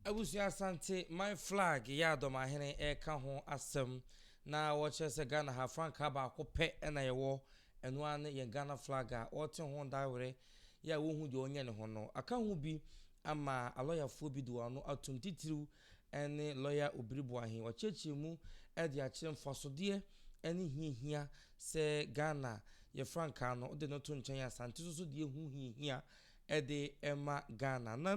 Abusua Asante man flag yɛ a Dɔmahene reka ho asɛm na wɔkyerɛ sɛ Ghana ha frankaa baako pɛ na yɛwɔ, ɛno ara ne yɛn Ghana flag a ɔrete ho dawere yi a wonhu deɛ ɔnyɛ ne ho no. Aka ho bi ama alɔyafoɔ bi de wɔn ano atom titiriw ne lɔya Obiri Boahen. Wakyerɛkyerɛ mu de akyerɛ mfasodeɛ ne hiahia sɛ Ghana yɛ frankaa no wode no to nkyɛn a Asante nso so deɛ ɛho hiahia de ma Ghana no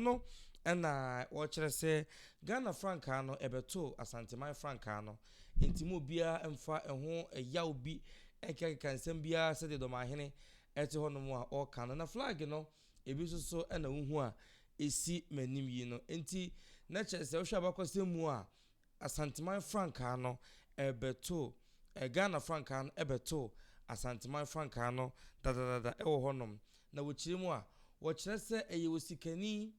ɛno na wɔkyerɛ sɛ Ghana frankaa no ɛbɛto Asanteman frankaa no nti mu obiara mfa ɛho ɛyaw bi ɛkekakeka nsɛm biara sɛdeɛ dɔmahene ɛte hɔ nom a ɔka no na flag no ebi nso so ɛna wohu a ɛsi m'anim yi no nti na kyerɛ sɛ wohwɛ abakɔsɛm mu a Asanteman frankaa no bɛtoo, Ghana frankaa no bɛtoo Asanteman frankaa no dadadada wɔ hɔnom. Na wɔkyerɛ mu a, wɔkyerɛ sɛ ɛyɛ osikani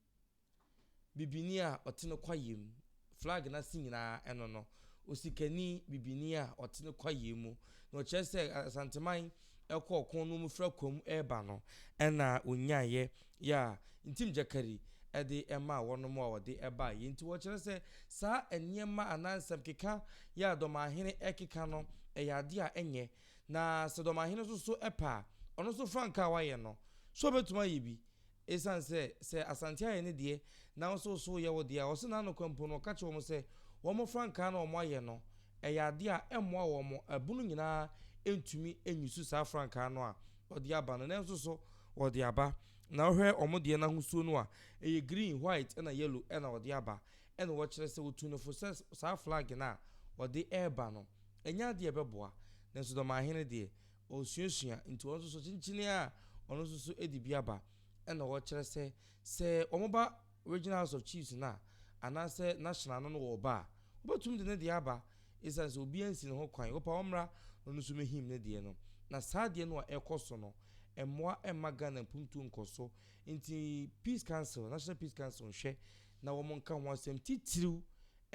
bibini a ɔte ne kwaeɛ mu. Flag no ase nyinaa ɛno no. Osikani bibini a ɔte ne kwaeɛ mu. Na wɔkyerɛ sɛ Asanteman ɛkɔ ɔkõ no mu fra komm reba no, nna onnyaeɛ yɛ a ntim gyakari de maa wɔnom a wɔde baeɛ nti wɔkyerɛ sɛ saa nneɛma anaa nsɛmkeka yɛ a Dɔmahene rekeka no yɛ adeɛ a ɛnyɛ na sɛ Dɔmahene nso so pɛ a ɔno nso frankaa a wayɛ no so ɔbɛtumi ayɛ bi Esiane sɛ sɛ Asante ayɛ ne deɛ na wo nso wo so yɛ wo deɛ a, ɔse n'ano kwa mpo no ɔka kyerɛ wɔn sɛ wɔn frankaa no a wɔn ayɛ no ɛyɛ adeɛ a ɛmmoa wɔn, abunu nyinaa ntumi nyusu saa frankaa no a ɔde aba no nanso so ɔde aba na wohwɛ wɔn deɛ no ahosuo no a ɛyɛ green, white ɛna yellow ɛna ɔde aba ɛna wɔkyerɛ sɛ wɔtu no fo sɛ saa flag no a ɔde ɛreba no ɛnyɛ adeɛ a ɛbɛboa nanso Dɔmahene deɛ Ɔresuasua nti ɔno nso so kyenkyenee a ɔno nso so de bi aba na ɔrekyerɛ sɛ, sɛ wɔba Regional House of Chiefs no a, anaasɛ National no no wɔreba a, wɔbɛtumi de ne deɛ aba ɛsiane sɛ obiara nsi ne ho kwan, wɔpɛ a wɔmmra na ɔno nso mmɛhim ne deɛ no. Na saa adeɛ no a ɛrekɔ so no, ɛmmoa mma Ghana mpuntuo nkɔ so. Nti Peace Council, National Peace Council nhwɛ na wɔnka ho asɛm titiriw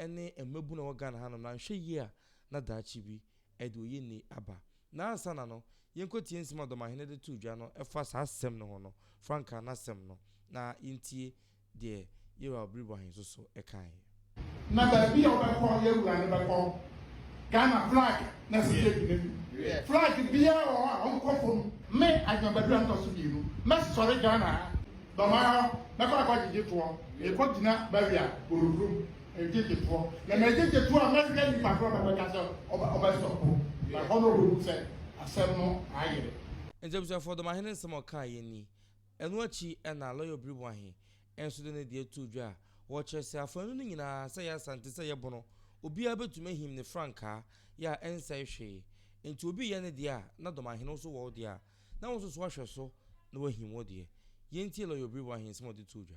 ne mmabunu a ɛwɔ Ghana hanom no, anhwɛ yie a na daakye bi ɛde oyenni aba. Na ansa na no, yenkotie nsɛm a Ɔdɔmahene de too dwa no ɛfa saa asɛm no ho no, frankaa no asɛm no, na yentie deɛ Yeroa Obiribo Ahensoso kaeɛ. Na baabi a wobɛkɔ yɛ wura no bɛkɔ Ghana flag na sika gyina mu. Flag biara wɔ hɔ a ɔnkɔ fam. Me Agyeman Badu Antɔso mmienu mɛsɔre Ghana ha dɔm ara hɔ mɛkɔ akɔ agyegye toɔ. Mekɔ gyina barrier Borohuro mu. ngyegyefoɔ na na ngyegyetuo a mɛhwɛ nipa korɔ na mɛka sɛ ɔbɛ sɔpo na ɛhɔ na ɔbɛhu sɛ asɛm no ayere. Nti abusuafoɔ dɔmahene nsɛm a ɔkaeɛ ni. Ɛno akyi na Lɔya Obiriboahe nso de ne deɛ too dwa a ɔkyerɛ sɛ afaanu no nyinaa sɛ ɛyɛ Asante sɛ ɛyɛ Bono obiara bɛtumi ahim ne frankaa yɛ a ɛnsɛe hwee nti obi reyɛ ne deɛ a na dɔmahene wo nso wɔ wo deɛ a na wo nso so ahwɛ so na woahim wo deɛ. Yɛntie Lɔya Obiriboahe nsɛm a ɔde too dwa.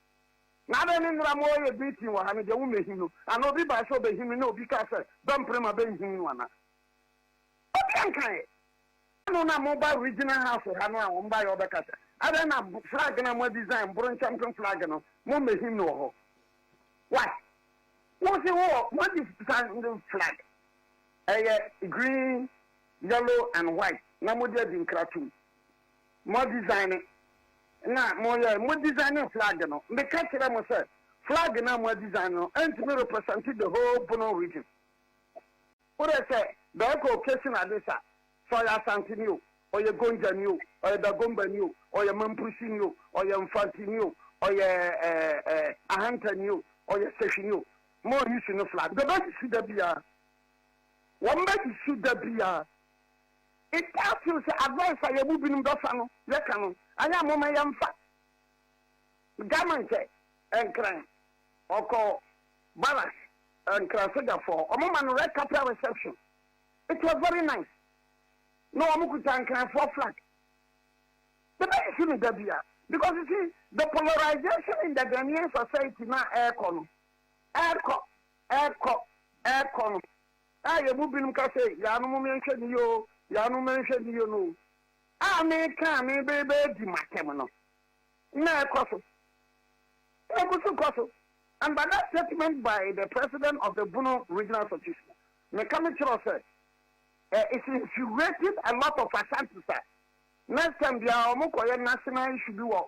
Na adɛn ne nnera mo ɔɔyɛ beating wɔ ha no deɛ wo mmɛhim no anaa obi bae sɛ ɔbɛhim no na obi kae sɛ bɛmpere ma bɛnhim no anaa obi ankaeɛ ano na mo ba regional house ha no a wɔn baeɛ ɔbɛka sɛ adɛn na flag na mo adesign mboro nkyɛmpem flag no mo mmɛhim no wɔ hɔ why wo se wo mo adesign no flag ɛyɛ green yellow and white na mo de adi nkra tum Mo design na mo yɛ mo design flag no me ka kyerɛ mo sɛ flag na mo a design no ɛntumi represent the whole Bono region worɛ sɛ bɛɛ kɔ occasion ade sa sɛ ɔyɛ Asanteni o ɔyɛ Gonja ni o ɔyɛ Dagomba ni o ɔyɛ Mamprisi ni o ɔyɛ Mfanti ni o ɔyɛ eh, Ahanta ni o ɔyɛ Sehwi ni o mo yi su no flag bɛbɛ si da biara wɔn bɛ si da biara Yɛtaa tee sɛ advice a yɛn mu binom bɛfa no yɛka no anyɛ a momma yɛmfa. German kyɛ Nkran ɔkɔ barracks Nkran sogyafo hɔ wɔn ma no red carpet reception it was very nice na wɔn kuta Nkranfoɔ flag yɛbɛyi so no da bia because you see the polarization in the Ghanaian society na ɛrekɔ no ɛrekɔ ɛrekɔ ɛrekɔ no a yɛn mu binom ka sɛ, Yaanom me nhwɛ ne yie o, yaanom me nhwɛ ne yie no a meka a mereba adi m'atɛm no na ɛkɔ so, na ɛgu so kɔ so. And by that statement by the president of the Bono Regional Association, meka mekyerɛw sɛ, eh, it's infuriating a lot of Ashantis a next time biara wɔkɔyɛ national issue bi wɔ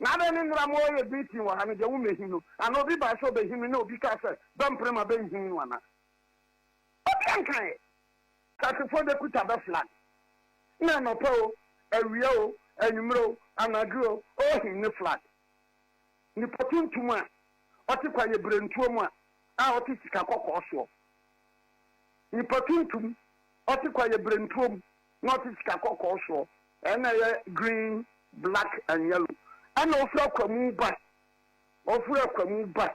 Na adɛn ne nnera mo ɔɔyɛ den pii wɔ ha no, deɛ wo mmɛhim no? Anaa obi bae sɛ ɔbɛhim me, na obi kaa sɛ, Bɛmpere ma bɛnhim no anaa? Obiara nkaeɛ. Sasefoɔ de kuta bɛfla no, na anɔpa o, awia o, anwummerɛ o, anadwo o, ɔɔhim ne fla no. Nipa tuntum a ɔte kwaeɛ berɛntuo mu a a ɔte sika kɔkɔɔ soɔ. Nipa tuntum ɔte kwaeɛ berɛntuo mu na ɔte sika kɔkɔɔ soɔ, ɛna ɛyɛ green, black and yellow, ɛna ɔfiri akwamu ba, ɔfiri akwamu ba,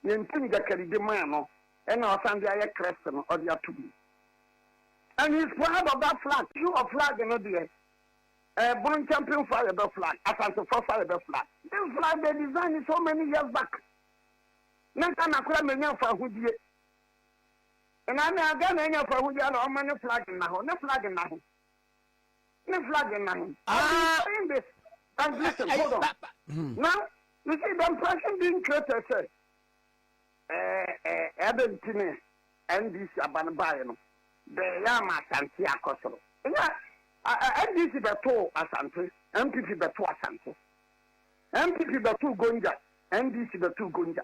yɛn ntim gyakari de maa no, ɛna ɔsan de ayɛ krɛst no ɔde ato mu. And he is proud of that flag, so wɔ flag no deɛ, eh, Boronkyɛmpen fo a yɛbɛ flag, Asantefoɔ fo a yɛbɛ flag. This flag they designed so many years back, na Ghana koraa menya mfa ahodie. Ɛna na Ghana anya fahu bia na ɔma ne flag nna hɔ. Ne flag nna he. Ne flag nna he. Ah. I've been saying this. And listen, hold on. Hmm. Now, you see the impression being created sɛ ɛbɛ nti ne NDC aba no baeɛ no bɛyɛ ama Asante akɔ soro. Ɛnyɛ NDC bɛtoo Asante, MPP bɛtoo Asante. MPP bɛtoo Gonja, NDC bɛtoo Gonja.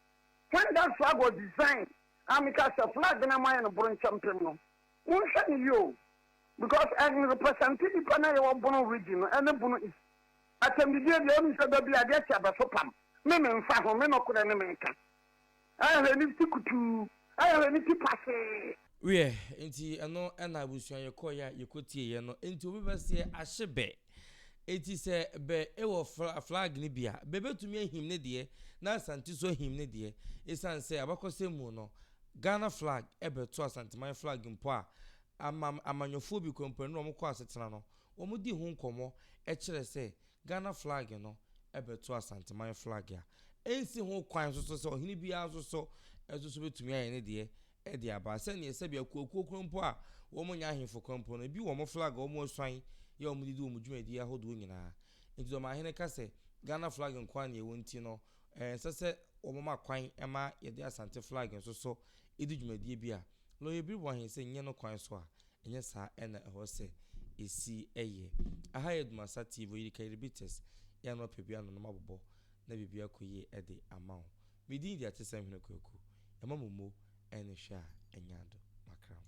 When that flag was designed, a meka sɛ flag no a moayɛ no boronkyɛmpem no, monhwɛ no yie o, because ɛn represente nnipa no a yɛwɔ Bono region no, ɛne Bono East. Atɛmdidie deɛ wonim sɛ da bi adeɛ kye abɛso pam, me menfa ho, me nɔkorɛ ne meka. Ɛn hwɛ nifty kutuu. Ɛyɛ w'ani ti pahee. Wiɛ, nti ɛno na abusua yɛkɔɔeɛ a yɛkɔtieeɛ no. Nti obi bɛseɛ ahye bɛ. Nti sɛ bɛ wɔ fla flag no bi a, bɛ bɛtumi ahim ne deɛ, na Asante nso ahim ne deɛ. Ɛsiane sɛ abakɔsɛm mu no, Ghana flag bɛto Asanteman flag mpo a, amam amanyɔfoɔ bi kɔ mpo ɛno na wɔkɔ asetena no, wɔdi ho nkɔmmɔ kyerɛ sɛ, Ghana flag no bɛto Asanteman flag a ɛnsi ho kwan nso so sɛ ɔhene biara nso so nso so bɛtumi ayɛ ne deɛ de aba sɛdeɛ sɛbi akuakuo koro mpo a wɔn nyɛ ahemfo koro mpo no ebi wɔn flag a wɔn asuan yɛ wɔn de di wɔn dwumadie ahodoɔ nyinaa nti deɛ ɔmanhene ka sɛ Ghana flag nko ara na ɛwɔ nti no ɛnsɛ sɛ wɔn ma kwan ma yɛde Asante flag nso so di dwumadie bi a lɔyɛ biriboɔ ahene sɛ nyɛ no kwan so a Ɛnyɛ saa na ɛhɔ sɛ esi yɛ. Aha yɛ Dumasa TV, oyi de Kairibites, yɛn na ɔpɛ bi ano na ɔma bobɔ na biribi akɔ yie de ama wo. Me din de Atesɛm Hene Kwaku. Yɛma mo mo ɛne hwɛ a ɛnya do makra mo.